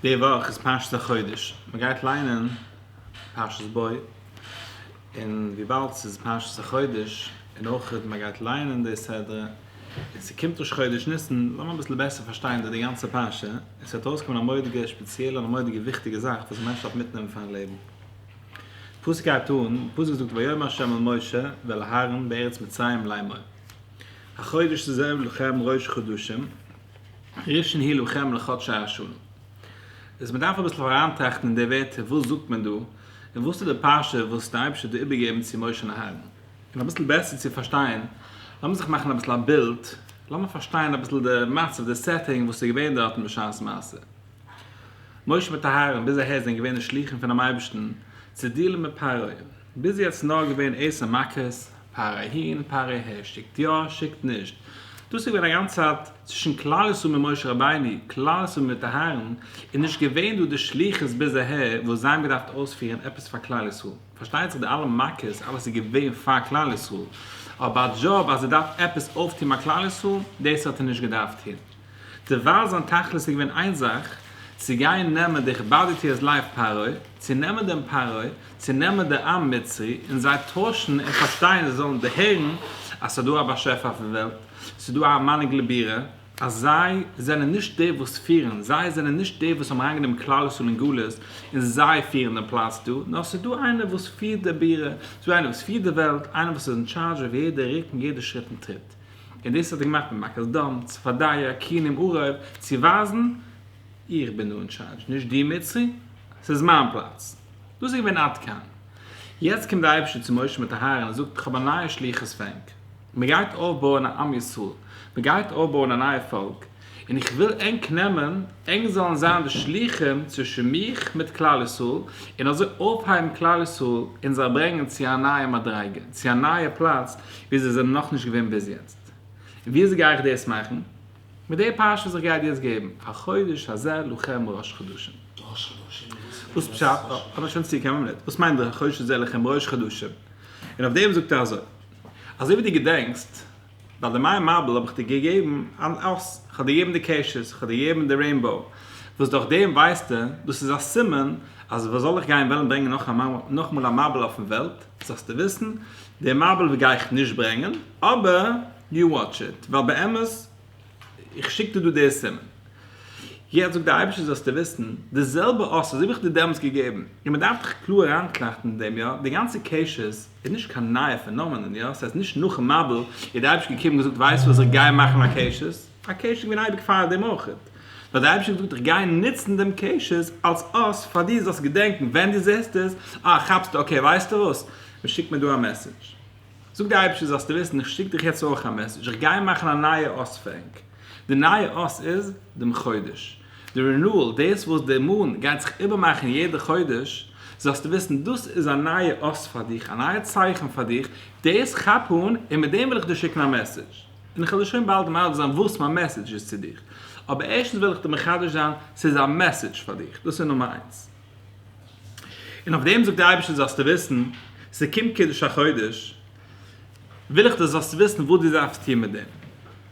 די וואך איז פרשת החודש, מען גייט ליינען פרשת בוא, און וויבאלד ס'איז פרשת החודש, און אויך מען גייט ליינען די סדרה, און ס'קומט ראש חודש ניסן, לאמיר אביסל בעסער פארשטיין די גאנצע פרשה, עס וועט ארויסקומען א מורא'דיגע שפעציעלע און א מורא'דיגע וויכטיגע זאך וואס א מענטש דארף מיטנעמען פאר'ן לעבן. פסוק הייבט אן, פסוק זאגט ויאמר ה' אל משה ואל אהרן בארץ מצרים לאמור. החודש תזב לכם ראש חדשים, ראשון הי' לכם לחדשי השנה. איז מען דארף אביסל אריינטראכטן אין די ווערטער וואס זאגט מען דא, און וואס איז די פרשה וואס די אייבערשטער האט דא איבערגעגעבן צו משה און אהרן. און אביסל בעסער צו פארשטיין, לאמיר זיך מאכן אביסל א בילד, לאמיר פארשטיין אביסל די מצב, די סעטינג וואס איז געווען דארטן בשעת מעשה. משה מיט אהרן ביז אהער זענען געווען די שלוחים פונעם אייבערשטן צו דיעלן מיט פרעה, ביז יעצט נאר געווען עשר מכות, פאר אהין פאר אהער, שיקט יא שיקט נישט, דאס איז געווען א גאנצע צייט צווישן כלל ישראל מיט משה רבינו, כלל ישראל מיט אהרן, איז נישט געווען דא די שליחות ביז אהער וואס זיי האבן געדארפט אויספירן עפעס פאר כלל ישראל, פארשטייט זיך די אלע מכות אלעס איז געווען פאר כלל ישראל, אבער א דזשאב אז ער דארף עפעס אויפטון ביי כלל ישראל, דאס האט ער נישט געדארפט טון. דערווייל זיין תכלית איז געווען איין זאך, צו גיין נעמען די כבדתי אז לייף פרעה, צו נעמען דעם פרעה, צו נעמען די עם מצרי, און זיי טוישן און פארשטיין זיי זאלן דערהערן אז ס'איז דא א באשעפער אויפן וועלט, ס'איז דא א מנהיג לבירה, אז זיי זענען נישט די וואס פירן, זיי זענען נישט די וואס האבן אריינגענומען כלל ישראל אין גלות און זיי פירן דעם פלאץ דא, נאר ס'איז דא איינער וואס פירט די בירה, ס'איז דא איינער וואס פירט די וועלט, איינער וואס איז אין טשארדזש אויף יעדע רוק און יעדע שריט און טריט. און דאס האט ער געמאכט מיט מכות דם, צפדיה, כינים, עורב, צו ווייזן, איך בין דא אין טשארדזש, נישט דו מצרי, ס'איז מיין פלאץ. דאס איז געווען עד כאן. יעצט קומט דער אייבערשטער צו משה מיט אהרן און זאגט, איך האב א נייע שליחות פאר ענק. מען גייט אויפבויען א עם ישראל. מען גייט אויפבויען א נייע פאלק. און איך וויל ענק נעמען, ענק זאלן זיין די שלוחים צווישן מיך מיט כלל ישראל, און אזוי אויפהייבן כלל ישראל און זיי ברענגען צו א נייע מדריגה, צו א נייע פלאץ וואו זיי זענען נאכנישט געווען ביז יעצט. און וויאזוי גיי איך דאס מאכן? מיט די פרשה וואס איך גיי דיר יעצט געבן, החודש הזה לכם ראש חדשים. וואס פשט? אבער שוין צו כמה מינוט, וואס מיינט דער החודש הזה לכם ראש חדשים? און אויף דעם זאגט ער אזוי, אזוי ווי דו געדענקסט, ביי די מים מבול האב איך דיר געגעבן אן אס, איך האב דיר געגעבן די קעשעס, איך האב דיר געגעבן די רעינבאו, וואס דורך דעם ווייסטו, דאס איז א סימן, אז וואס זאל איך גיין וועלן ברענגען נאכאמאל א מבול אויפן וועלט, זאלסטו וויסן, די מבול גיי איך נישט ברענגען, אבער יו וואטש איט, ווייל באמת, איך שיק דיר דא די סימן. יעצט זאגט די אייבערשטער זאלסטו וויסן, די זעלבע אס וואס האב איך דיר דעמאלטס געגעבן, און מען דארף דאך קלאר אריינטראכטן אין דעם יא, די גאנצע קעשעס, איז נישט קיין נייע פענאמענען, יא? ס'הייסט נישט נאכן מבול איז די אייבישטער געקומען און געזאגט ווייסט וואס איך גיי מאכן א קעשעס, א קעשעס איז געווען אייביג פאר דעם אויך, נאר די אייבישטער האט געזאגט איך גיי נוצן דעם קעשעס אלס אס פאר דיר זאלסט געדענקן ווען דו זעסט עס, אה כאפסטו אקעי ווייסטו וואס, מען שיקט מיר דא א מעסעדזש, זאגט די אייבישטער זאלסטו וויסן איך שיק דיך יעצט אויך א מעסעדזש איך גיי מאכן א נייע אס פרענק, די נייע אס איז דעם חודש. די רינועל, דאס וואס די מנ גייט זיך איבערמאכן יעדע חודש, זאלסטו וויסן דאס איז א נייע אות פאר דיך, א נייע צייכן פאר דיך, דאס כאפ אן און מיט דעם וויל איך דיר שיקן א מעסעדזש, און איך וועל דיר שוין באלד מעלד זיין וואס מיין מעסעדזש איז צו דיך, אבער ערשטנס וויל איך דיר מחדש זיין, ס'איז א מעסעדזש פאר דיך, דאס איז נומער איינס. און אויף דעם זאגט דער אייבערשטער זאלסטו וויסן, ס'קומט קידוש החודש, וויל איך דו זאלסט וויסן וואס דו דארפסט טון מיט דעם.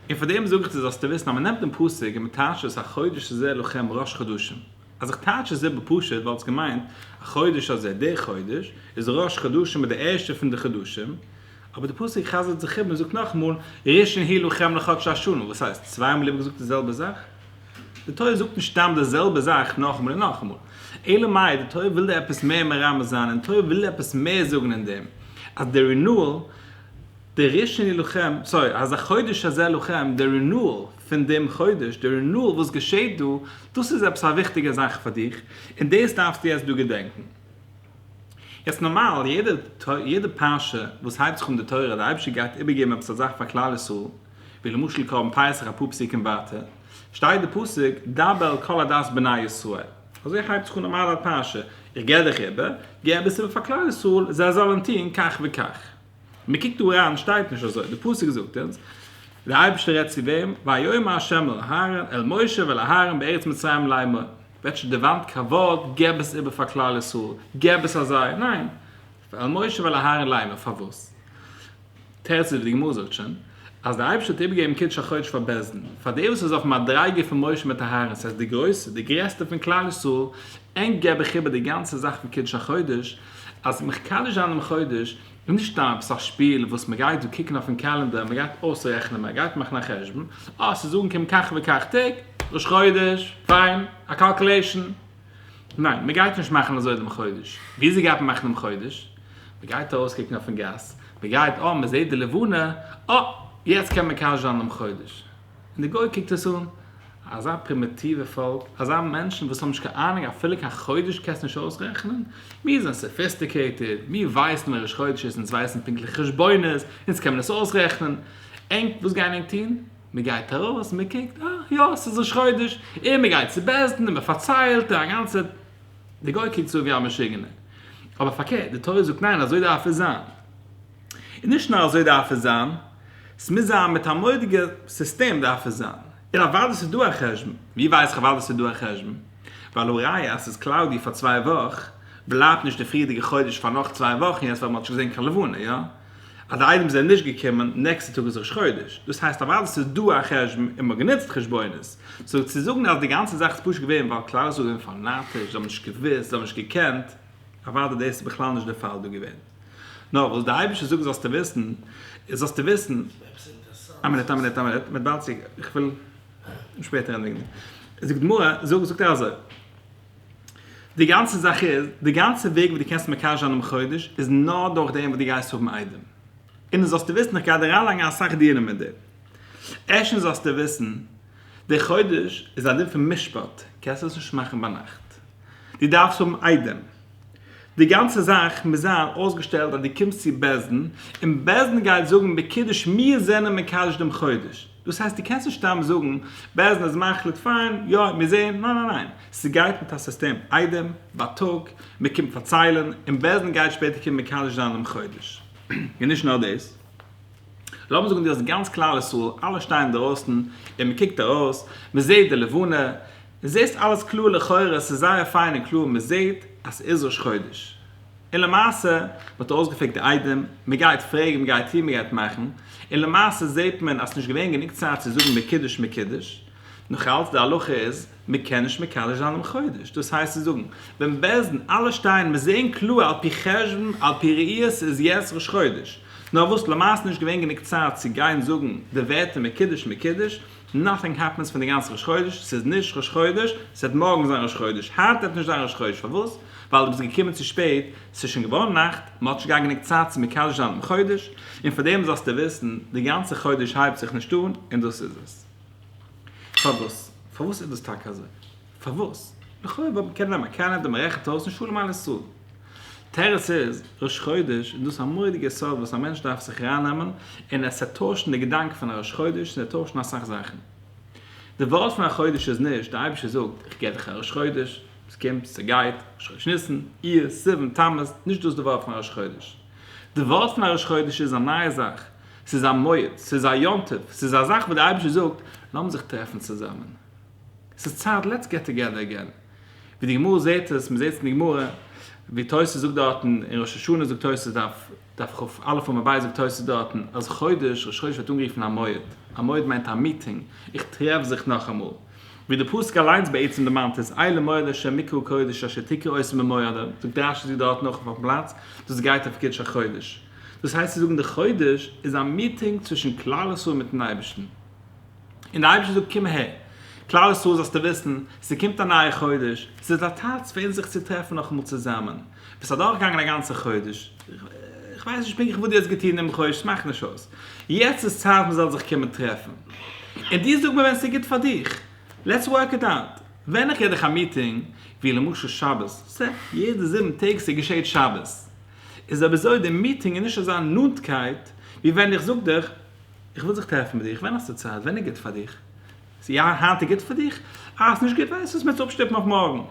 און פאר דעם זאג איך דיר זאלסטו וויסן אז מען נעמט דעם פסוק און מען טייטשט עס החודש הזה לכם ראש חדשים. אז איך טייטש עס איבער פשוט וואלט עס געמיינט החודש הזה דער חודש איז ראש חדשים איז דער ערשטער פון די חדשים. אבער דער פסוק חזר'ט זיך איבער און זאגט נאכאמאל ראשון הי' לכם לחדש השנה. וואס הייסט? צוויי מאל איבערגעזאגט די זעלבע זאך? די תורה זאגט נישט סתם די זעלבע זאך נאכאמאל און נאכאמאל. אלא מאי די תורה וויל דא עפעס מער מרמז זיין און די תורה וויל עפעס מער זאגן אין דעם אז דער רינועל, דער ראשון להילחם, סארי, אז החודש הזה לכם, דער רינועל פון דעם חודש, דער רינועל וואס געשעהט דא, דאס איז עפעס א וויכטיגע זאך פאר דיך, און דאס דארפסטו יעצט דא געדענקן. יעצט נארמאל, יעדע פרשה וואס הייבט זיך אן די תורה, די אייבערשטער גייט איבערגעבן עפעס א זאך פאר כלל ישראל, ווי למשל קרבן פסח אפאר פסוקים ווייטער שטייט די פסוק דבר אל כל עדת בני ישראל, אזוי הייבט זיך אן נארמאל א פרשה, איך געב דיך איבער, גיב אביסל איבער פאר כלל ישראל זיי זאלן טון כך וכך. מען קוקט דא אריין שטייט נישט אזוי, די פסוק זאגט אונז די אייבערשטער רעדט צו וועם, ויאמר ה' אל אהרן אל משה ואל אהרן בארץ מצרים לאמור, וועט נישט דערוואנט קיין ווארט גיב עס איבער פאר כלל ישראל, גיב עס אזיי, ניין, ועל משה ועל אהרן ליימער פארוואס תרצ ז ווי די גמרא זאגט שוין אז דער אייבערשטער האט איבערגעגעבן קידוש החודש פאר בית דין פאר די וואס איז אויפן מדריגה פון משה מיט אהרן ס'הייסט די גרויסע די גרעסטע פון כלל ישראל ענק געב איך איבער די גאנצע זאך פון קידוש החודש אז מקדש זיין דעם חודש איז נישט סתם עפעס א שפיל וואס מ'גייט דא קוקן אויפן קעלענדער מ'גייט אויסרעכענען מ'גייט מאכן א חשבון אה ס'איז אנגעקומען כך וכך טעג ראש חודש פיין א קאלקעלעישן. ניין, מען גייט נישט מאכן אזוי דעם חודש. וויאזוי גייט מען מאכן דעם חודש? מען גייט ארויסקוקן אויפן גאס, מען גייט אה, מען זעט די לבנה, אה, יעצט קען מען מקדש זיין דעם חודש. און די גוי קוקט עס אן, אזא פרימיטיווע פאלק, אזא מענטשן וואס האבן נישט קיין אהנונג אפילו קיין חודש קענסט נישט אויסרעכענען? מיר זענען סאפיסטיקעיטעד, מיר ווייסן ווען ראש חודש איז, אונז ווייסן פונקטליכע חשבונות, אונז קען מען עס אויסרעכענען. ענק, וואס גייען ענק טון? מ'גייט ארויס, מ'קוקט, אה, יא, ס'איז ראש חודש, און מ'גייט צו בית דין און מ'פארציילט, און א גאנצע, דער גוי קוקט צו ווי א משוגענער, אבער פארקערט, די תורה זאגט ניין, אזוי דארף עס זיין, און נישט נאר אזוי דארף עס זיין, ס'מוז זיין מיט א מורא'דיגע סיסטעם דארף עס זיין, און אוודאי ס'איז דא א חשבון, ווי ווייס איך אוודאי ס'איז דא א חשבון? ווייל הראיה אז ס'איז קלאודי פאר צוויי וואך, בלייבט נישט די פריערדיגע חודש פאר נאך צוויי וואך און יעצט ווייל מ'האט נישט געזען קיין לבנה, יא? אז די אייטעמס זענען נישט געקומען, נעקסטע טאג איז ראש חודש, דאס הייסט אוודאי ס'איז דא א חשבון און מ'האט גענוצט חשבונות, סאו צו זאגן אז די גאנצע זאך איז פשוט געווען ווייל כלל ישראל זענען פאנאטיש, זיי האבן נישט געוואוסט, זיי האבן נישט געקענט, אוודאי דאס איז בכלל נישט דער פאל דא געווען. נאר וואס דער אייבערשטער זאגט זאלסטו וויסן, איז זאלסטו וויסן. עפעס אינטערעסאנט. א מינוט א מינוט א מינוט, מען באלד צו, איך וויל שפעטער ענדיגן. זאגט די גמרא, זאגט ער אזוי. די גאנצע זאך איז, די גאנצע וועג וואס דו קענסט מקשר זיין דעם חודש, איז נאר דורך דעם וואס דו גייסט האבן איידעם. און דאס זאלסטו וויסן, איך גיי דיר אריינלייגן אסאך דינים מיט דעם. ערשטנס זאלסטו וויסן, דער חודש איז א דין פון משפט, קענסט עס נישט מאכן ביינאכט. דו דארפסט האבן איידעם. די גאנצע זאך מוז זיין אויסגעשטעלט אז דו קומסט צו בית דין, און בית דין גייט זאגן בקידוש מיר זענען מקדש דעם חודש. דאס הייסט דו קענסט נישט סתם זאגן בעסד איז מחליט פיין יא מיר זעהן ניין ניין ניין סגייט מיט א סיסטעם איידעם בייטאג מען קומט פארציילען און בעסד גייט שפעטער קומען מקדש זיין דעם חודש און נישט נאר דאס לאמיר זאגן דו האסט גאנץ כלל ישראל אלע שטייען אינדערויסן און מען קוקט ארויס מען זעהט די לבנה זעהסט אלעס קלאר לכאורה סאיז זייער פיין און קלאר מען זעהט אז סאיז ראש חודש. און למעשה מען האט אויסגעפרעגט די איידעם, מען גייט פרעגן, מען גייט טון, מען גייט מאכן, און למעשה זעט מען אז ס'נישט געווען גענוג צייט צו זאגן מקדש מקדש, נאכאלץ די הלכה איז מען קען נישט מקדש זיין דעם חודש, דאס הייסט צו זאגן ווען בעז ד אלע שטייען מען זען קלאר על פי חשבון על פי ראיות איז יעצט ראש חודש, נאר וואס למעשה נישט געווען גענוג צייט צו גיין זאגן די ווערטער מקדש מקדש, נאטינג העפענס פון די גאנצע ראש חודש, ס'איז נישט ראש חודש, ס'וועט מארגן זיין ראש חודש, היינט וועט נישט זיין ראש חודש, פארוואס? ווייל דו ביסט געקומען צו שפעט, ס'איז שוין געווארן נאכט, מ'האט נישט געהאט גענוג צייט צו מקדש זיין דעם חודש, און פאר דעם זאלסטו וויסן, די גאנצע חודש הייבט זיך נישט אן, און דאס איז עס. פארוואס? פארוואס איז דאס טאקע אזוי? פארוואס? לכאו' וואלט מען קענען נעמען קענעדע, מען רעכנט אויס און שלום על ישראל. תרס איז ראש חודש איז דאס א מורא'דיגע יסוד וואס א מענטש דארף זיך ארייננעמען און עס צו טוישן די געדאנק פון א ראש חודש און עס טוישן אסאך זאכן. די ווארט פון א חודש איז נישט, די אייבערשטער זאגט, איך געב דיך א ראש חודש, עס קומט, עס גייט, ראש חודש ניסן, אייר, סיוון, תמוז, נישט דאס די ווארט פון א ראש חודש. די ווארט פון א ראש חודש איז א נייע זאך, ס'איז א מועד, ס'איז א יום טוב, ס'איז א זאך וואס די אייבערשטער זאגט, לאמיר זיך טרעפן צוזאמען. ס'איז צייט לעטס געט טאגעדער אגען, ווי די גמרא זעהט עס, מ'זעהט עס אין די גמרא, ווי תוס' זאגט דארטן, אין ראש השנה זאגט תוס' דף דף כ א עמוד ב זאגט תוס' דארטן אז חודש, ראש חודש ווערט אנגערופן א מועד, א מועד מיינט א מיטינג, איך טרעף זיך נאכאמאל, ווי די פסוק אליינס בעצם דערמאנט עס, אי למועד אשר מקרא קודש אשר תקרא עושה ממועדה, זאגט רש י דארטן אויך אויפן פלאץ, דאס גייט אויף קידוש החודש, דאס הייסט צו זאגן די חודש איז א מיטינג צווישן כלל ישראל מיטן אייבערשטן. און דער אייבערשטער זאגט קום אהער כלל ישראל זאלסטו וויסן ס'קומט א נייע חודש ס'איז א טייטס פאר אונז זיך צו טרעפן נאכאמאל צוזאמען ביסט אדורכגעגאנגען א גאנצע חודש איך ווייס נישט פונקטליך וואס דו האסט געטון דעם חודש ס'מאכט נישט אויס יעצט איז צייט מען זאל זיך קומען טרעפן און דו זאג מיר ווען ס'איז גוט פאר דיך לעטס ווארק איט אוט ווען איך גיב דיך א מיטינג ווי למשל שבת סע יעדע זיבן טעג ס'געשעהט שבת איז אבער אזוי די מיטינג איז נישט אזא נאנטקייט ווי ווען איך זאג דיך איך וויל זיך טרעפן מיט דיר, ווען האסטו צייט? ווען איז גוט פאר דיך? יא, היינט איז גוט פאר דיך? אה, ס'איז נישט גוט, ווייסט וואס? מ'עט עס אפשטופן אויף מארגן.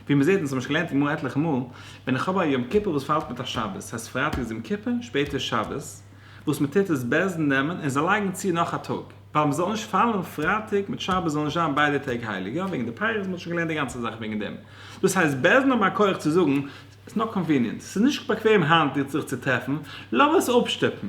ווי מ'זעט, און ס'האט מען שוין געלערנט גמרא עטליכע מאל, ווען איך האב א יום כיפור וואס פאלט מיט א שבת, ס'הייסט פרייטאג איז יום כיפור, שפעטער איז שבת, וואס מ'טוט איז בעז ה נעמען און זיי לייגן צו נאך א טאג, ווייל מ'זאל נישט פאלן פרייטאג מיט שבת זאלן נישט זיין ביידע טעג הייליג, יא, וועגן די פייערס, מ'האט שוין געלערנט די גאנצע זאך וועגן דעם. דאס הייסט בעז ה האבן א כח צו זאגן, ס'איז נאט קאנוויניענט, ס'איז נישט באקוועם היינט זיך צו טרעפן, לאמיר עס אפשטופן.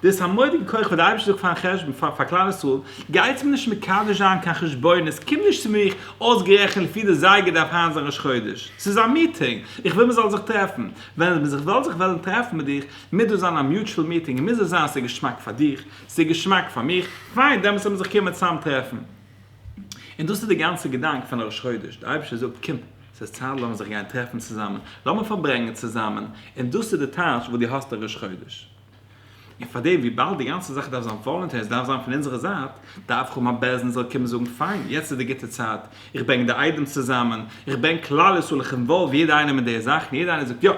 דאס איז א מורא'דיגע כח וואס דער אייבערשטער זאגט פארן חשבון פאר פאר כלל ישראל, גייטס מיר נישט מקדש זיין קיין חשבונות, קומט נישט צו מיך, אויסגערעכנט לפי די זייגער דארף היינט זיין ראש חודש, ס'איז א מיטינג, איך וויל מען זאל זיך טרעפן, ווען מען זיך וועל זיך וועלן טרעפן מיט דיך, מוז דאס זיין א מיוטשול מיטינג, און מוז עס זיין ס'איז געשמאק פאר דיך, ס'איז געשמאק פאר מיך, פיין דעמאלטס וועל מען זיך קומען צאם טרעפן. און דאס איז די גאנצע געדאנק פון א ראש חודש, דער אייבערשטער זאגט קום. ס'איז צייט לאמיר זיך גיין טרעפן צוזאמען, לאמיר פארברענגען צוזאמען, און דאס איז די טייטש וואס דו האסט אויף ראש חודש. און פאר דעם, וויבאלד די גאנצע זאך דארף זיין וואלונטער און ס'דארף זיין פון אונזערע זייט, דארף איך האבן א בעל דין זאל קומען זאגן, פיין, יעצט איז די גוטע צייט, איך ברענג די איידעם צוזאמען, איך ברענג כלל ישראל, איך אינוואלוו יעדער איינעם אין די זאך, און יעדער איינער זאגט, יא!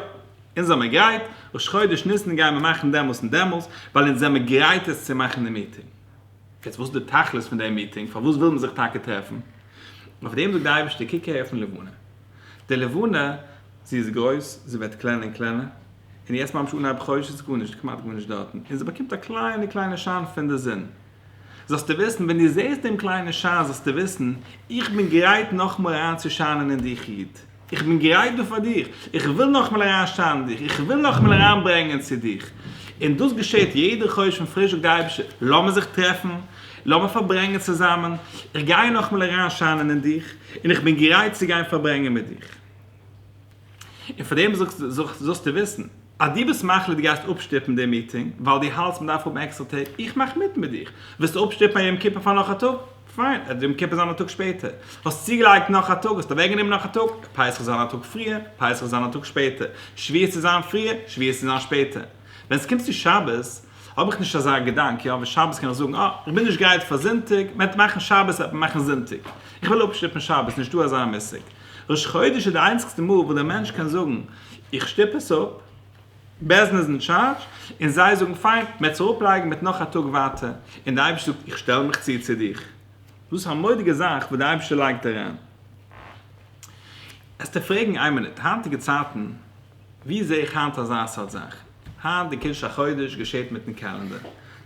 אונז זעמיר גרייט, ראש חודש ניסן גייען מיר מאכן דעמאלס און דעמאלס, ווייל אונז זעמיר גרייט עס צו מאכן די מיטינג. יעצט וואס איז די תכלית פון די מיטינג? פארוואס וויל מען זיך טאקע טרעפן? אויף דעם זאגט דער אייבערשטער, קוק אהער אויפן לבנה, די לבנה זי איז גרויס, זי ווערט קלענער און קלענער, און יעצט ממש אנהייב חודש איז גארנישט, כמעט גארנישט דארטן, און זי באקומט א קליינע קליינע שיין פון די זון, זאלסטו וויסן, ווען דו זעסט דעם קליינעם שיין זאלסטו וויסן, איך בין גרייט נאכאמאל אריינצושיינען אין דיך איד. איך בין גרייט דא פאר דיך, איך וויל נאכאמאל אריינשטארן דיך, איך וויל נאכאמאל אריינברענגען צו דיך. און דאס געשעט יעדע חודש פון פריש, זאגט די אייבערשטער, לאמיר זיך טרעפן, לאמיר פארברענגען צוזאמען, איך גיי נאכאמאל אריינשיינען אין דיך, און איך בין גרייט צו גיין פארברענגען מיט דיך. און פאר דעם זאלסטו וויסן. אז דו ביסט מחליט דו גייסט אפשטופן די מיטינג ווייל דו האלטסט מ'דארף האבן עקסטער טעג, איך מאך מיט מיט דיך, ווילסט אפשטופן א יום כיפור פאר נאך א טאג, פיין, עס וועט יום כיפור זיין א טאג שפעטער, האסט צוגעלייגט נאך א טאג, האסט אוועקגענומען נאך א טאג, פסח וועט זיין א טאג פריער, פסח וועט זיין א טאג שפעטער, שביעית צו זיין פריער, שביעית צו זיין שפעטער. ווען עס קומט צו שבת, האב איך נישט אזא געדאנק, יא, ווען שבת קען איך זאגן, אה, איך בין נישט גרייט פאר זונטאג, מען וועט מאכן שבת וועט מען מאכן זונטאג, איך וויל אפשטופן שבת, נישטא אזא מושג. ראש חודש איז די איינציגסטע מאל וואס דער מענטש קען זאגן, איך שטופ עס אפ, בעסד איז אין טשארדזש, און זיי זאגן פיין, מ'עט עס אראפלייגן מיט נאך א טאג ווייטער, און די אייבישטער זאגט איך שטעל מיך צו צו דיך. דאס א מודיגע זאך וואס די אייבישטער לייגט אריין. עסטו פרעגן איין מינוט, היינטיגע צייטן, וואו זע איך היינט אזא סארט זאך? היינט די קידוש החודש געשעט מיטן קעלענדער.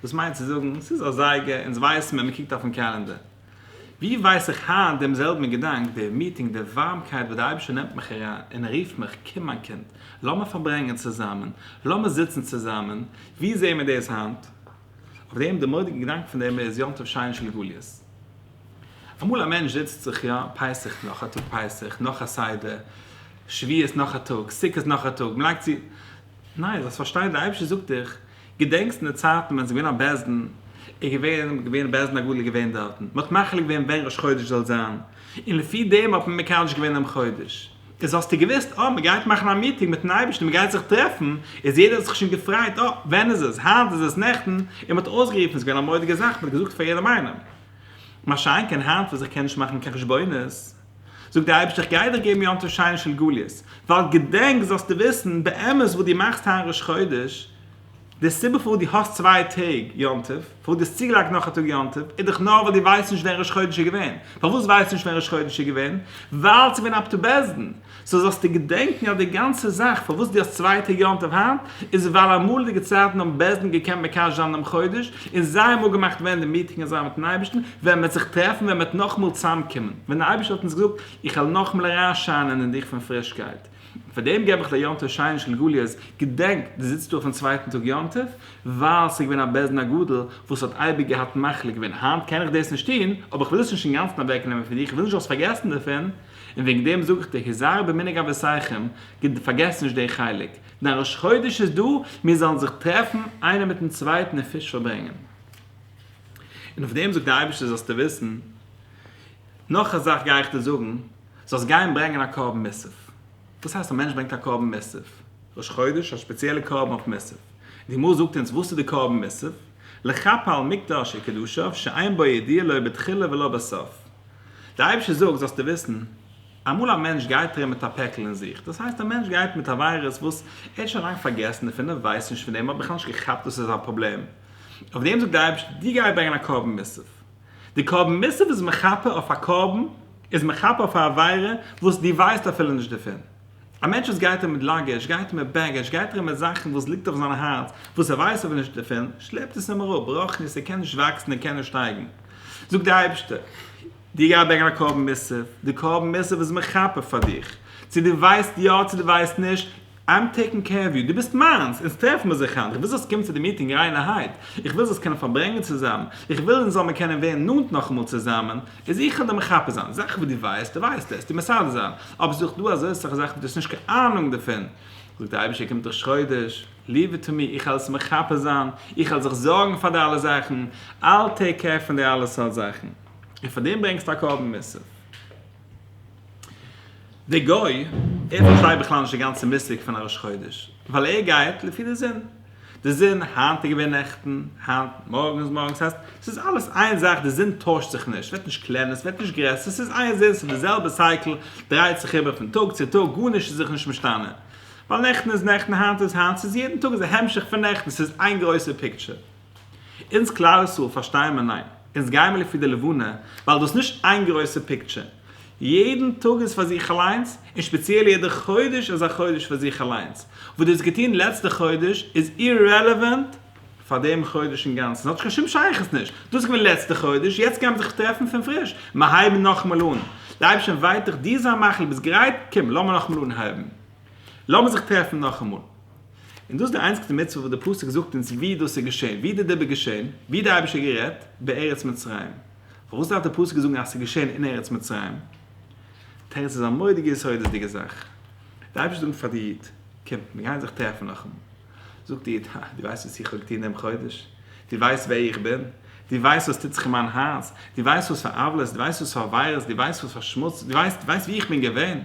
דאס מיינט צו זאגן, ס'איז א זייגער, אונז ווייסן ווען מ'קוקט אויפן קעלענדער. ווי ווייס איך היינט דעם זעלבן געדאנק, דער מיטינג, דער ווארעמקייט וואס דער אייבערשטער נעמט מיך אריין און ער רופט מיך, קום מיין קינד, לאמיר פארברענגען צוזאמען, לאמיר זיצן צוזאמען, ווי זעען מיר דאס היינט? אויף דעם דער מורא'דיגער געדאנק פון דעם איז יום טוב שני של גליות. אמאל א מענטש זיצט זיך יא, פסח נאך א טאג פסח, נאך א סדר, שביעות נאך א טאג, סוכות נאך א טאג, מען לייגט צו, ניין, זאלסט פארשטיין דער אייבערשטער זאגט דיך, געדענקסט אין די צייטן ווען ס'איז געווען א בית דין, איז געווען געווען בית דין הגדול איז געווען דארטן, מען האט מחליט געווען ווען ראש חודש זאל זיין, און לפי דעם האט מען מקדש געווען דעם חודש, איז האסטו געוואוסט אה מען גייט מאכן א מיטינג מיטן אייבערשטן מען גייט זיך טרעפן, איז יעדער האט זיך שוין געפרייט אה ווען איז עס היינט איז עס נעכטן, און מען האט אויסגערופן איז געווען א מודיגע זאך מען האט געזאגט פאר יעדעם איינעם, מה שאין כן היינט וואס איך קען נישט מאכן קיין חשבונות, זאגט דער אייבערשטער איך גיי דיר געבן יום טוב שיינער של גליות, ווייל געדענק זאלסטו וויסן באמת וואס דו מאכסט היינט ראש חודש, די סיבה פארוואס דו האסט צוויי טעג יום טוב, פארוואס דו האסט צוגעלייגט נאך א טאג יום טוב, איז דאך נאר ווייל דו ווייסט נישט ווען ראש חודש איז געווען, פארוואס ווייסטו נישט ווען ראש חודש איז געווען? ווייל ס'איז געווען אב ד בעסדן, סאו זאלסטו געדענקן אז די גאנצע זאך פארוואס דו האסט צווייטע יום טוב היינט איז ווייל אמאליגע צייטן האבן בעז ד געקענט מקדש זיין דעם חודש און זיי האבן אפגעמאכט ווען די מיטינג איז זיין מיטן אייבערשטן ווען מען וועט זיך טרעפן ווען מען וועט נאכאמאל צוזאמקומען ווען דער אייבערשטער האט אונז געזאגט איך וועל נאכאמאל אריינשיינען אין דיך פון פרישקייט און פאר דעם געב איך דיר יום טוב שיינער של גליות געדענק דו זיצט דא אויפן צווייטן טאג יום טוב ווייל ס'איז געווען א בעז ד הגדול וואס האט אייביג געהאט מחליט געווען היינט קען איך דאס נישט טון אבער איך וויל עס נישט אינגאנצן אוועקנעמען פון דיר איך וויל נישט זאלסט פארגעסן דערפון און וועגן דעם זאג איך דיר, הזהר במנהג אבותיכם, פארגעס נישט די חלק, דיין ראש חודש איז דא, מיר זאלן זיך טרעפן איינער מיטן צווייטן און פיש פארברענגען. און אויף דעם זאגט דער אייבערשטער זאלסטו וויסן, נאך א זאך גיי איך דיר זאגן, זאלסט גיין ברענגען א קרבן מוסף. וואס הייסט א מענטש ברענגט א קרבן מוסף? ראש חודש, א ספעציעלע קרבן אויף מוסף. די גמרא זאגט אונז וואס איז די קרבן מוסף, לכפר על מקדשי קדשיו שאין בו ידיעה לא בתחילה ולא בסוף. דער אייבערשטער זאגט זאלסטו וויסן, אמאל א מענטש גייט ארום מיט א פעקל אין זיך, דאס הייסט א מענטש גייט מיט א וויירוס וואס ער האט שוין לאנג פארגעסן דערפון, ער ווייסט נישט פון דעם, ער האט בכלל נישט געכאפט דאס איז א פראבלעם, אויף דעם זאגט דער אייבערשטער דו גיי ברענגען א קרבן מוסף, די קרבן מוסף איז מכפר אויף א קרבן, איז מכפר אויף א עבירה וואס דו ווייסט אפילו נישט דערפון. א מענטש וואס גייט ארום מיט לאגעזש, גייט ארום מיט בעגעזש, גייט ארום מיט זאכן וואס ליגט אויף זיין הארץ, וואס ער ווייסט ער וויל נישט ערפילן, שלעפט עס אים אראפ, ברוחנית, ער קען נישט וואקסן, ער קען נישט שטייגן. זאגט דער אייבערשטער, דו גיי ברענגען א קרבן מוסף, די קרבן מוסף איז מכפר פאר דיך, צו דו ווייסט יא צו דו ווייסט נישט, איים טעיקינג קעיר אוו יו, דו ביסט מיינס, אונז טרעפן מיר זיך היינט, איך וויל זאלסט קומען צו די מיטינג ריינערהייט, איך וויל זאלסט קענען פארברענגען צוזאמען, איך וויל אונז זאל מיר קענען ווערן נאנט נאכאמאל צוזאמען, איז איך אדער מחפה זיין? זאכן וואס דו ווייסט, דו ווייסט עס, טו מסדר זיין. אבער ס'איז דאך דא אזוי אסאך זאכן וואס דו האסט נישט קיין אהנונג דערפון. זאגט דער אייבישטער קומט דאך חודש, ליוו איט טו מי, איך העל עס מחפה זיין, איך העל זיך זארגן פאר די אלע זאכן, I'll take care פון די אלע סארט זאכן. און פאר דעם ברענגסטו א קרבן מוסף. דער גוי, ער פארשטייט בכלל נישט די גאנצע מושג פון א ראש חודש, ווייל ער גייט לפי די זון. די זון, היינט איז געווען נעכטן, היינט, מארגן איז מארגן, ס'הייסט, ס'איז אלעס איין זאך, די זון טוישט זיך נישט, ס'ווערט נישט קלענער, ס'ווערט נישט גרעסער, ס'איז איין זון, ס'איז די זעלבע סייקל, דרייט זיך איבער פון טאג צו טאג, גארנישט איז זיך נישט משתנה, ווייל נעכטן איז נעכטן, היינט איז היינט, ס'איז יעדן טאג איז א המשך פון נעכטן, ס'איז איין גרויסע פיקטשער. אונז כלל ישראל פארשטייען מיר ניין, אונז גייען מיר לפי די לבנה, ווייל דאס איז נישט איין גרויסע פיקטשער. יעדן טאג איז פאר זיך אליינס, און שפעציעל יעדע חודש איז א חודש פאר זיך אליינס. וואס דו האסט געטון לעצטע חודש איז אירעלעווענט פאר דעם חודש אינגאנצן, ס'האט קיין שום שייכות נישט. דאס איז געווען לעצטע חודש, יעצט גיימיר זיך טרעפן פון פריש, מיר הייבן נאכאמאל אן. די אייבערשטער ווייט דיך דיר זיין מחל, ביסט גרייט? קום, לאמיר נאכאמאל אנהייבן. לאמיר זיך טרעפן נאכאמאל. און דאס איז די איינציגסטע מצוה וואס דער פסוק זאגט אונז ווי דאס איז געשען, ווי איז די דיבור געשען, ווי האט די אייבערשטער גערעדט? בארץ מצרים. פארוואס דארף דער פסוק זאגן אז ס'איז געשען אין ארץ מצרים? תירוץ איז א מורא'דיגע יסודות'דיגע זאך. דער אייבערשטער זאגט פאר די איד, קום, מיר גייען זיך טרעפן נאכאמאל. זאגט די איד, הא, דו ווייסט וואס איך האב געטון דעם חודש? דו ווייסט ווער איך בין? דו ווייסט וואס טוט זיך אין מיין הארץ? דו ווייסט וואס פאר עוולות? דו ווייסט וואס פאר עבירות? דו ווייסט וואס פאר שמוץ? דו ווייסט, דו ווייסט וואו איך בין געווען?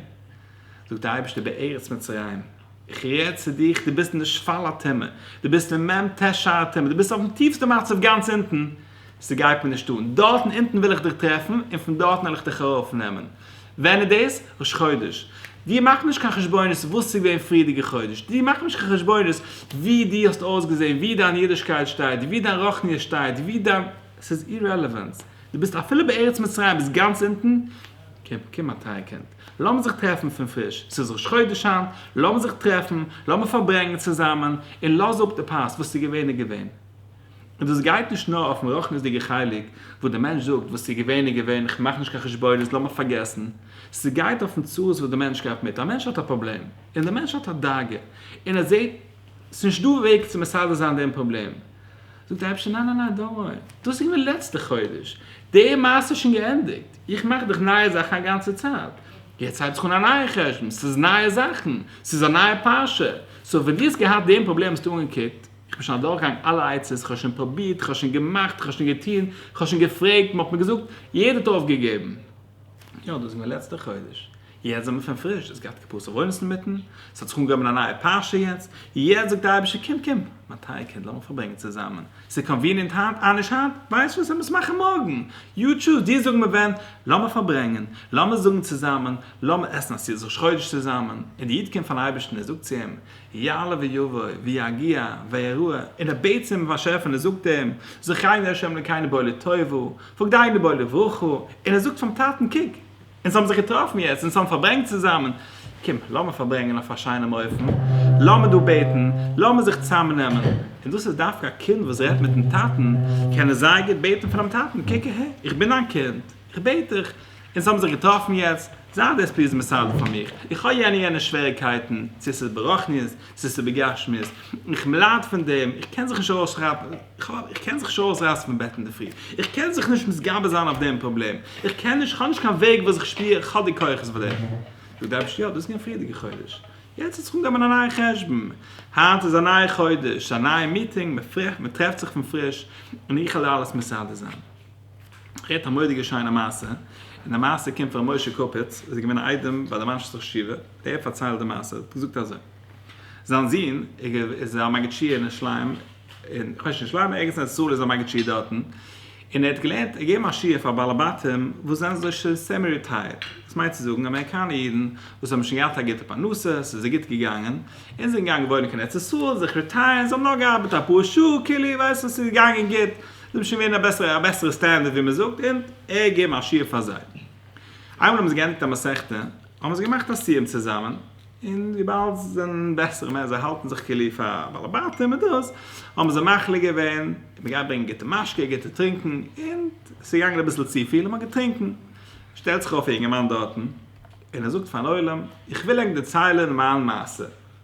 זאגט דער אייבערשטער, בארץ מצרים. איך רעד צו דיך, דו ביסט אין די שפל הטומאה. דו ביסט אין מ ט שער הטומאה. דו ביסט אויפן טיפסטע מצב גאנץ אונטן. ס'גייט מיר נישט אן. דארטן אונטן וויל איך דיך טרעפן, און פון דארטן וועל איך דיך ארויפנעמען. ווען איז דאס? ראש חודש. דיר מאכט נישט קיין חשבונות וואס איז געווען פריערדיגע חודש. דיר מאכט נישט קיין חשבונות ווי דו האסט אויסגעזען, ווי דיין אידישקייט שטייט, ווי דיין רוחניות שטייט, ווי דיין. ס'איז אירעלעווענט. דו ביסט אפילו בארץ מצרים ביסט גאנץ אונטן. קום, קום מיין טייער קינד. לאמיר זיך טרעפן פון פריש. ס'איז ראש חודש היינט. לאמיר זיך טרעפן. לאמיר פארברענגען צוזאמען. און לאז אפ די פאסט. וואס איז געווען איז געווען. און דאס גייט נישט נאר אויפן רחניות'דיגע חלק וואס דער מענטש זאגט וואס ס'איז געווען איז געווען כ'מאך נישט קיין חשבונות לאמיר פארגעסן, ס'גייט אויפן צרות וואס דער מענטש גייט מיט, א מענטש האט א פראבלעם און דער מענטש האט א דאגה און ער זעט ס'נישט דא וועג צו מסדר זיין דעם פראבלעם זאגט דער אייבערשטער ניין ניין ניין דאנט ווארי דאס איז געווען לעצטע חודש די מעשה איז שוין געענדיגט איך מאך דאך נייע זאכן א גאנצע צייט יעצט הייבט זיך אן א נייע חשבון ס'איז נייע זאכן ס'איז א נייע פרשה סאו ווען דו האסט געהאט דעם פראבלעם האסטו אנגעקוקט איך בין שוין אדורכגעגאנגען אלע עצות, איך האב שוין פרובירט, איך האב שוין געמאכט, איך האב שוין געטון, איך האב שוין געפרעגט, מען האט מיר געזאגט, יעדער האט אויפגעגעבן. יא, דאס איז געווען לעצטע חודש. יעצט זעמער פון פריש, דאס געהאט קופת ארונות אינמיטן, ס'האט זיך אנגעהויבן א נייע פרשה יעצט, יעצט זאגט דער אייבערשטער קום, קום, מיין טייער קינד, לאמיר פארברענגען צוזאמען, ס'איז קאנוויניענט היינט, אה נישט היינט, ווייסט וואס, לאמיר עס מאכן מארגן, יו טשוז, דיר זאגן מיר ווען, לאמיר פארברענגען, לאמיר זאגן צוזאמען, לאמיר עסן א סעודות ראש חודש צוזאמען, און דער איד קומט פארן אייבערשטן, ער זאגט צו אים, יעלה ויבוא, ויגיע, ויראה, און ער בעט צום באשעפער און ער זאגט אים, זכני ה' אלקינו בוא לטובה, פקדינו בוא לברכה, און ער זאגט פאר'ן טאטן, קוק, אונז האבן זיך געטראפן יעצט, אונז האבן פארברענגט צוזאמען, קום, לאמיר פארברענגען אויף א שיינעם אופן, לאמיר דא בעטן, לאמיר זיך צוזאמנעמען, און דאס איז דווקא א קינד וואס רעדט מיט'ן טאטן, קען ער זייער גוט בעטן פונעם טאטן, קוק אהער, איך בין דיין קינד, איך בעט דיך, אונז האבן זיך געטראפן יעצט, זיין דעס פליז מסדר פאר מיך, איך האב יענע יענע שוועריקייטן, צו ס'איז ברחניות, צו ס'איז בגשמיות, איך מלייד פון דעם, איך קען זיך נישט ארויסרייסן פון בעט אינדערפרי, איך קען זיך נישט מתגבר זיין אויף דעם פראבלעם, איך קען נישט, כ'האב נישט קיין וועג וואס איך שפיר איך האב די כוחות פאר דעם. זאגט דער אייבערשטער יא, דאס איז געווען פריערדיגע חודש, יעצט האט זיך אנגעהויבן א נייע חשבון, היינט איז א נייע חודש, ס'איז א נייע מיטינג, מ'טרעפט זיך פון פריש, און איך עלול אלעס מסדר זיין. רעדט א מודיגע שיינע מעשה, און די מעשה קומט פון ר' משה קאפיץ וואס איז געווען א איידעם ביי די מאנשעסטער שטיווע, ער פארציילט די מעשה, האט געזאגט אזוי, זיין זון איז א מגיד שיעור אין ירושלים, אין כ'ווייס נישט ירושלים ערגעץ אין ארץ ישראל איז ער מגיד שיעור דארטן, און ער האט געלערנט ער געבן א שיעור פאר בעלי בתים וואס זענען אזוי שוין סעמי ריטייערט, דאס מיינט צו זאגן אמעריקאנע אידן וואס האבן שוין געהאט א גוטע פרנסה, ס'איז זיי גוט געגאנגען, און זענען געגאנגען וואוינען קיין ארץ ישראל, זיך ריטייערן, זיי האבן נאר געארבעט אפאר שעה, כאילו איר ווייסט וואס איז געגאנגען גוט. זיי האבן שוין ווערן א בעסערע א בעסערע סטענדערט ווי מען זאגט און ער האט געגעבן א שיעור פאר זיי. איינמאל האבן זיי געענדיגט א מסכתא האבן זיי געמאכט א סיום צוזאמען און וויבאלד זיי זענען בעסערע מענטש זיי האלטן זיך כאילו פאר בעלי בתים און דאס האבן זיי מחליט געווען מען גייט ברענגען גוטע משקה גוטע טרינקען און עס איז געגאנגען אביסל צופיל און מען האט געטרינקען. שטעלט זיך אויף א יונגערמאן דארטן און ער זאגט פארן עולם איך וויל ענק דערציילען מיין מעשה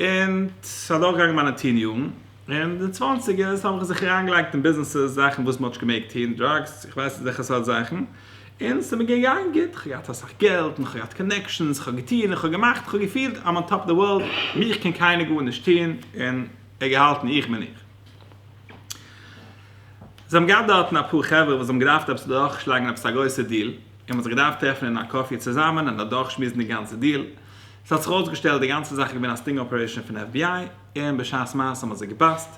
און ס'איז אדורכגעגאנגען מיינע טין יארן, און די צוואנציגערס האב איך זיך אריינגעלייגט אין ביזנעסעס, זאכן וואס מען האט נישט געמעגט טון, דראגס, איך ווייס נישט וועלכע סארט זאכן, און ס'איז מיר געגאנגען גוט, איך האב געהאט אסאך געלט, און איך האב געהאט קאנעקשאנס, איך האב געטון, איך האב געמאכט, איך האב געפילט איים אן טאפ אוו די ווארלד, מיך קען קיינער גארנישט טון, און איך געהאלטן איך בין איך. זיי האבן געהאט דארטן אפאר חברה וואס האבן געדארפט עפעס אדורכשלאגן עפעס א גרויסע דיל, און מען האט זיך געדארפט טרעפן אין א קאפי צוזאמען און אדורכשמועסן די גאנצע דיל, עס האט זיך אויסגעשטעלט די גאנצע זאך איז געווען א סטינג אפערעישאן פון fbi, און בשעת מעשה האט מען זיי געבאסט,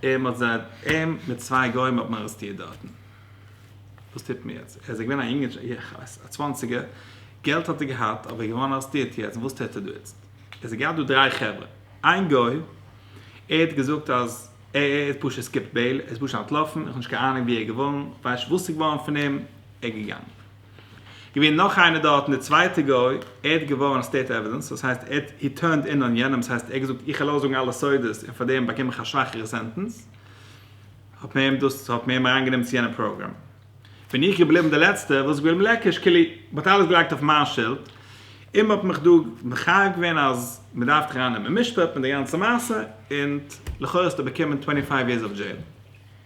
און מען האט זיי, אים מיט צוויי גוים האט מען ארעסטירט דארטן. וואס טוט מען יעצט? ער איז געווען א יונגער, איך ווייס, א צוואנציגער, געלט האט ער געהאט, אבער ער איז געווארן ארעסטירט יעצט, וואס טוט ער דא איצט? עס איז געהאט דא דריי חברה, איין גוי, ער האט געזאגט אז ער האט פשוט סקיפט בעיל, ער איז פשוט אנטלאפן, איך האב נישט קיין אהנונג ווי ער איז געווארן, ווייסט נישט וואס איז געווארן פון אים, ער איז געגאנגען. געווען נאך איינער דארטן די צווייטע גוי ער האט געווארענט סטעיט עווידענס דאס הייסט ער האט הי טורנד אין אן יענעם דאס הייסט ער האט געזאגט איך וועל אויסזאגן אלע סודות און פאר דעם באקום איך א שוואכערע סענטענס האט מען אים דאס האט מען אים אריין גענומען צו יענע פראגראם בין איך געבליבן די לעצטע וואס איז געבליבן לעקיש קעלי מען האט אלעס געלייגט אויף מיין שולד און מען האט מיך דא מחייב געווען אז מען דארף דיך אריין נעמען אין משפט מיט די גאנצע מעשה און לכאורה האסטו באקומען טווענטי פייוו יערס אוו דזשעיל.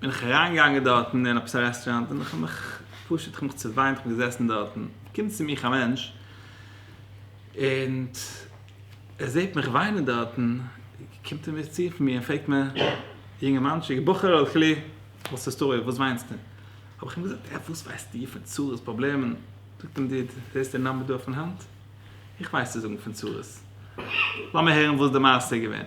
בין איך אריינגעגאנגען דארטן אין עפעס א רעסטוראנט און כ'האב מיך פשוט כ'האב מיך צעוויינט כ'בין געזעסן דארטן קומט צו מיך א מענטש און ער זעט מיך וויינען דארטן קומט ער מיר צו פון מיר און פרעגט מיר יונגערמאנטשיק בחור'ל כלי וואס איז סטארי וואס וויינסטו האב איך אים געזאגט אה וואס ווייסטו פון צרות פראבלעמען זאגט אים דוד זעסט די נאמבער דא אויפן האנט איך ווייס צו זאגן פון צרות לאמיר הערן וואס די מעשה איז געווען.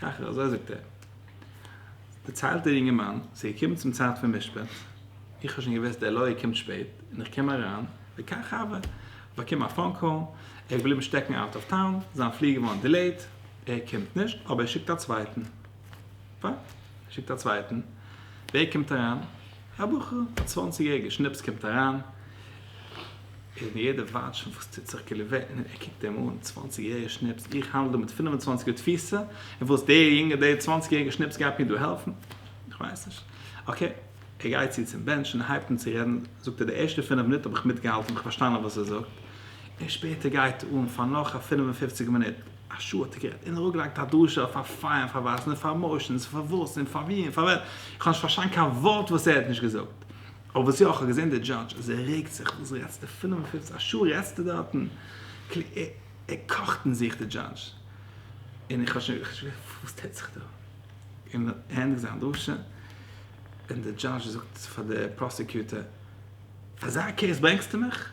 ככה, אזוי זאגט ער. דערציילט דער יונגערמאן, ס'איז געקומען צום צייט פון משפט, איך האב שוין געוואוסט דער לויער קומט שפעט, און איך קום אריין, וכך הווה, איך באקום א פאון קאל, ער איז געבליבן שטעקן אוט אוו טאון, זיין פליגער געווארן דילעיט, ער קומט נישט, אבער ער שיקט א צווייטן. פיין, ער שיקט א צווייטן, ווער קומט אריין? א בחור א צוואנציג יעריגער שנאפס קומט אריין און יעדער ווארט שוין וואס טוט זיך כאילו ווען ער קוקט אים אן צוואנציג יעריגער שנאפס איך האנדל דא מיט פינף און צוואנציג יאר תפיסה און וואס דער יונגער דער צוואנציג יעריגער שנאפס גייט מיר דא העלפן איך ווייס נישט אקעי ער גייט צו צום בענטש און הייבט אן צו רעדן זאגט ער די ערשטע פינף מינוט האב איך מיטגעהאלטן האב איך פארשטאנען וואס ער זאגט און שפעטער גייט ער אן פאר נאך א פינף און פופציג מינוט. א שעה האט ער גערעדט און אראפגעלייגט א דרשה אויף פאר פיי און פאר ווייזן און פאר מאושענס און פארוואס און פאר ווי און פאר ווען, איך האב נישט פארשטאנען קיין ווארט וואס ער האט נישט געזאגט, אבער וואס יא, איך האב געזען די דזשאדזש אז ער רעגט זיך, וואס רעדסטו פינף און פופציג, א שעה רעדסטו דארטן, כלומר ער קאכט אין זיך די דזשאדזש, און איך האב שוין געכאפט וואס טוט זיך דא, און ער ענדיגט זיין דרשה און די דזשאדזש זאגט פאר די פראסעקיוטער, פאר אזא קעיס ברענגסטו מיך?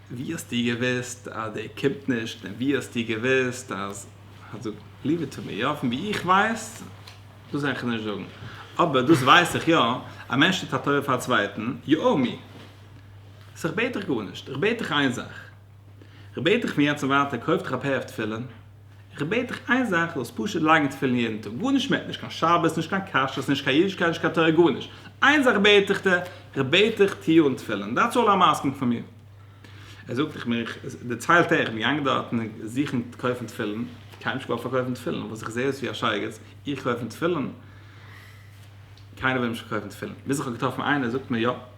ווי האסטו געוואוסט אז דער קומט נישט און ווי האסטו געוואוסט אז אז דו ליוו איט טו מי יא פון ווי איך ווייס דאס וועל איך נישט זאגן אבער דאס ווייס איך יא א מענטש טוט א טובה פאר א צווייטן יו או מי סאו איך בעט דיך גארנישט איך בעט דיך איין זאך איך בעט דיך פון יעצט און ווייטער קויף דיך א פער אויף תפילין איך בעט דיך איין זאך זאלסט פשוט לייגן תפילין יעדן טאג גארנישט מער נישט קיין שבת נישט קיין כשרות נישט קיין אידישקייט נישט קיין תורה גארנישט איין זאך בעט איך דיר איך בעט דיך טוה אן תפילין דעטס אלל איים אסקינג פון מיר ער זאגט איך בין איך דערציילט ער איך בין געגאנגען דארטן זוכן קויפן תפילין קיינער האט נישט געוואלט פארקויפן תפילין וואס איך זע אויס ווי א שייגעץ איך קויפן תפילין קיינער וויל נישט פארקויפן תפילין ביז איך האב געטראפן איינער זאגט מיר יא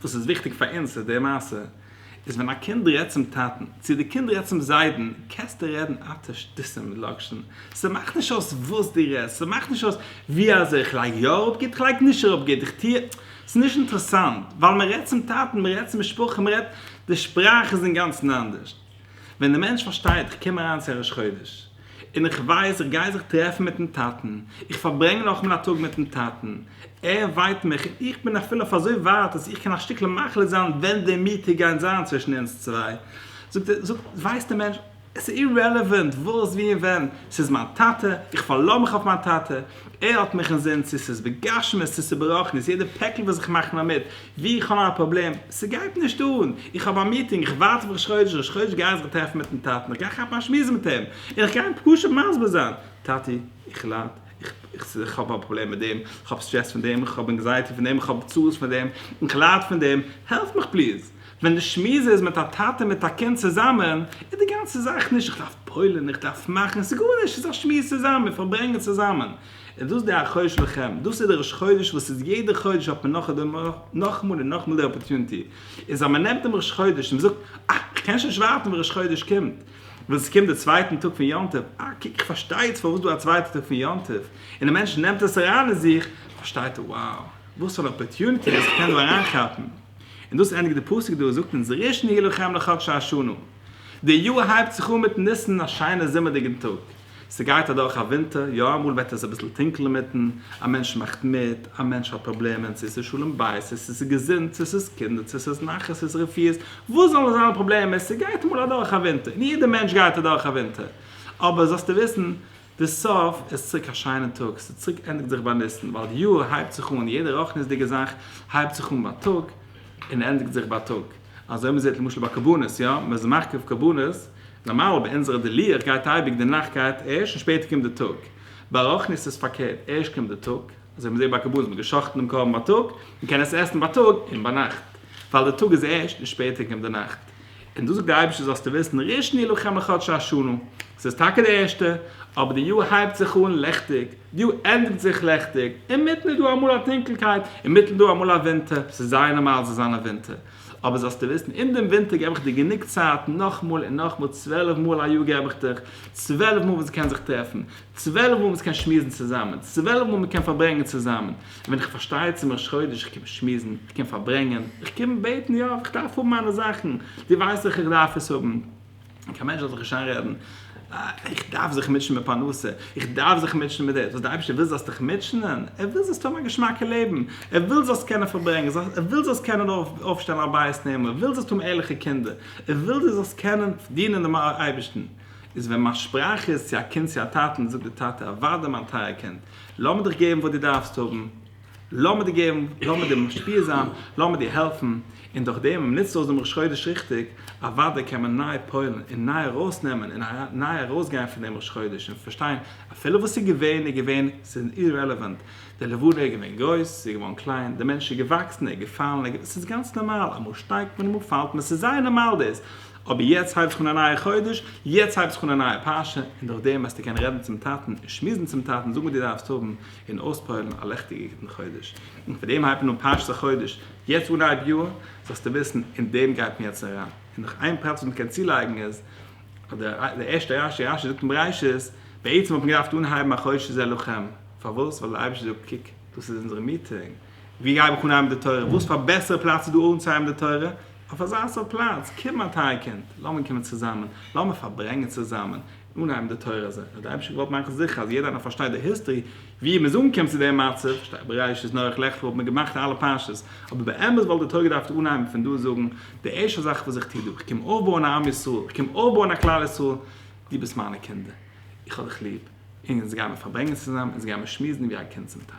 וואס איז וויכטיג פאר אונז איז די מעשה איז ווען א קינד רעדט צום טאטן צו די קינד רעדט צום זיידן קענסטו רעדן אטע שטותים לאקשן ס'מאכט נישט אויס וואס דו רעדסט ס'מאכט נישט אויס ווי אזוי איך לייג יא אראפ גוט איך לייג נישט אראפ גוט איך טוה ס'איז נישט אינטערעסאנט ווייל מ'רעדט צום טאטן מ'רעדט צום משפחה מ'רעדט די שפראך איז אינגאנצן אנדערש. ווען דער מענטש פארשטייט, איך קום אריין צו ראש חודש, און איך ווייס איך גיי זיך טרעפן מיט'ן טאטן, איך פארברענג נאכאמאל א טאג מיט'ן טאטן, ער וויינט מיך, און איך בין אפילו אויף אזוי ווייט אז איך קען א שטיקל מחליט זיין ווען די מיטה גייט זיין צווישן אונז צוויי, זאגט, ווייסט דער מענטש, עס איז אירעלעווענט וואס, ווי און ווען, ס'איז מיין טאטע, איך פארלאזט מיך אויף מיין טאטע, ער האט מיך אינזין צו ס'איז בגשמיות צו ס'איז ברחנית, יעדע פעקל וואס איך מאך נאר מיט ווי איך האב מיין פראבלעם, ס'גייט נישט אן, איך האב א מיטינג, איך ווארט אויף ראש חודש, ראש חודש גיי איך זיך טרעפן מיטן טאטן, איך גיי כאפן א שמועס מיט אים, און איך גיי אים פשוט מסביר זיין, טאטי, איך לייד, איך האב א פראבלעם מיט דעם, איך האב סטרעס פון דעם, איך האב ענקזייעטי פון דעם, איך האב צרות פון דעם, איך לייד פון דעם, העלף מיך פליז! ווען די שמועס איז מיט א טאטע מיט א קינד צוזאמען, איז די גאנצע זאך נישט איך דארף פועל'ן, איך דארף מאכן, ס'איז גארנישט, ס'איז א שמועס צוזאמען, מיר פארברענגען צוזאמען. איז דאס די החודש לכם, דאס איז די ראש חודש וואס איז יעדע חודש האט מען נאך און נאכאמאל און נאכאמאל די אפערטוניטי, איז אז מען נעמט דעם ראש חודש און מען זאגט, אה, איך קען שוין נישט ווארטן ווען ראש חודש קומט, וואס עס קומט די צווייטן טאג פון יום טוב, אה, קוק איך פארשטיי איצט פארוואס דא א צווייטע טאג פון יום טוב, און די מענטש נעמט עס אריין אין זיך, פארשטייט ער, wow, וואס פאר אן אפערטוניטי וואס איך קען דא אריינכאפן. און דאס ענדיגט די פסוק דא, זאגט אונז ר' שניאור לכם לחדש האשנה, די יאר הייבט זיך אן מיט ניסן, א שיינע זומערדיגן טאג, ס'גייט אדורך א ווינטער, יא אמאל וועט עס אביסל טונקל אינמיטן, א מענטש מאכט מיט, א מענטש האט פראבלעמען, צו ס'איז שלום בית, צו ס'איז געזונט, צו ס'איז קינדער, צו ס'איז נחת, צו ס'איז רפיאות, וואס זאלן זיין די פראבלעמען, ס'גייט אמאל אדורך א ווינטער, און יעדע מענטש גייט אדורך א ווינטער, אבער זאלסטו וויסן, די סוף איז צוריק א שיינע טאג, ס'איז צוריק ענדיגט זיך ביי ניסן, ווייל די יאר הייבט זיך אן, יעדע רוחניות'דיגע זאך הייבט זיך אן ביי טאג, און ענדיגט זיך ביי טאג, אזוי מ'זעט למשל ביי קרבנות, יא, מ'איז מקריב קרבנות, נארמאל ביי אונזערע די לוח גייט אייביג די נאכט גייט ערשט און שפעטער קומט די טאג, ביי רוחניות איז פארקערט ערשט קומט די טאג, אזוי מ'זעט ביי קרבנות, מ'האט געשאכטן דעם קרבן ביי טאג, מ'קען עס עסן ביי טאג און ביינאכט, ווייל די טאג איז ערשט און שפעטער קומט די נאכט. און דאס זאגט דער אייבערשטער זאלסטו וויסן, ראשון ילחם חדש השנה, עס איז טאקע דער ערשטער, אבער די יאר הייבט זיך אן ליכטיג, די יאר ענדיגט זיך ליכטיג, אינמיטן איז דא אמאל א טונקלקייט, אינמיטן איז דא אמאל א ווינטער, עס איז זייער נארמאל עס זאל זיין א ווינטער, אבער זאלסטו וויסן, אין דעם ווינטער געב איך דיר גענוג צייט, נאכמאל און נאכמאל, צוועלף מאל א יאר געב איך דיך, צוועלף מאל וואס מען קען זיך טרעפן, צוועלף מאל וואס מען קען שמועסן צוזאמען, צוועלף מאל מען קען פארברענגען צוזאמען. ווען איך פארשטיי צום ראש חודש, איך קום שמועסן, איך קום פארברענגען, איך קום בעטן, יא, איך דארף האבן מיינע זאכן, דו ווייסט דאך איך דארף עס האבן, קיין מענטש זאל זיך נישט איינרעדן, איך דארף זיך מוטשען מיט פרנסה, איך דארף זיך מוטשען מיט דאס, וואס דער אייבערשטער וויל זאלסט דיך מוטשענען, ער וויל זאלסט האבן א געשמאקע לעבן, ער וויל זאלסט קענען פארברענגען, ער וויל זאלסט קענען אויפשטיין א בית נאמן, ער וויל זאלסט האבן ערליכע קינדער, ער וויל דו זאלסט קענען דינען דעם אייבערשטן, איז ווען מיין שפראך איז צו א קינד צו א טאטן, זאגט דער טאטע, אוודאי מיין טייער קינד, לאמיר דיך געבן וואס דו דארפסט האבן, לאמיר דיר געבן, לאמיר דיר משפיע זיין, לאמיר דיר העלפן, און דורך דעם ווען מען נוצט אויס דעם ראש חודש ריכטיג, אוודאי קען מען ניי פועל'ן און ניי ארויסנעמען און ניי ארויסגיין פון דעם ראש חודש און פארשטיין, אפילו וואס איז געווען איז געווען, ס'איז אירעלעווענט, די לבנה איז געווען גרויס, ס'איז געווארן קליין, דער מענטש איז געוואקסן, ער איז געפאלן, ער איז געווען, ס'איז גאנץ נארמאל, אמאל שטייגט מען, אמאל פאלט מען, ס'איז זייער נארמאל דאס. אבער יעצט הייב איך אן א נייע חודש, יעצט הייב איך אן א נייע פרשה, און דורך דעם וועסטו קענען רעדן צום טאטן און שמועסן צום טאטן, זאגן וואס דו דארפסט האבן, און אויספועל'ן א לעכטיגע גוטן חודש. און פאר דעם הייבט מען אן פרשת החודש, יעצט אנהייב יאר, זאלסטו וויסן, אין דעם גייט מען יעצט אריין. און נאך איין פרט וואס מען קען צולייגן איז, אז דער ערשטער רשי, רשי זאגט אין בראשית, בעצם האט מען געדארפט אנהייבן א חודש איז אלוקים, פארוואס? ווייל דער אייבערשטער זאגט, קוק, דאס איז אונזערע מיטונג, ווי הייב איך אן הייבן די תורה, וואס פאר בעסערע פלאץ איז דא אנצוהייבן די תורה, אויף אזא סארט פלאץ, קום א טיי קינד, לאמיר קומען צוזאמען, לאמיר פארברענגען צוזאמען, אנהייבן די תורה אזוי, אז די אייבישטער געוואלט מאכן זיכער אז יעדער איינער פארשטייט די היסטערי ווי מ'איז אנגעקומען צו די מצב, שטייט בראשית, נח, לך לך וואלט מען געמאכט אלע פרשות, אבער באמת וואלט די תורה געדארפט אנהייבן פון דא זאגן, די ערשטע זאך וואס איך טו דא, כ'קום אויפבויען א עם ישראל, איך קום אויפבויען א כלל ישראל, דו ביסט מיינע קינדער, איך האב דיך ליב, אונז גיימער פארברענגען צוזאמען, אונז גיימער שמועסן ווי א קינד צום טאטן.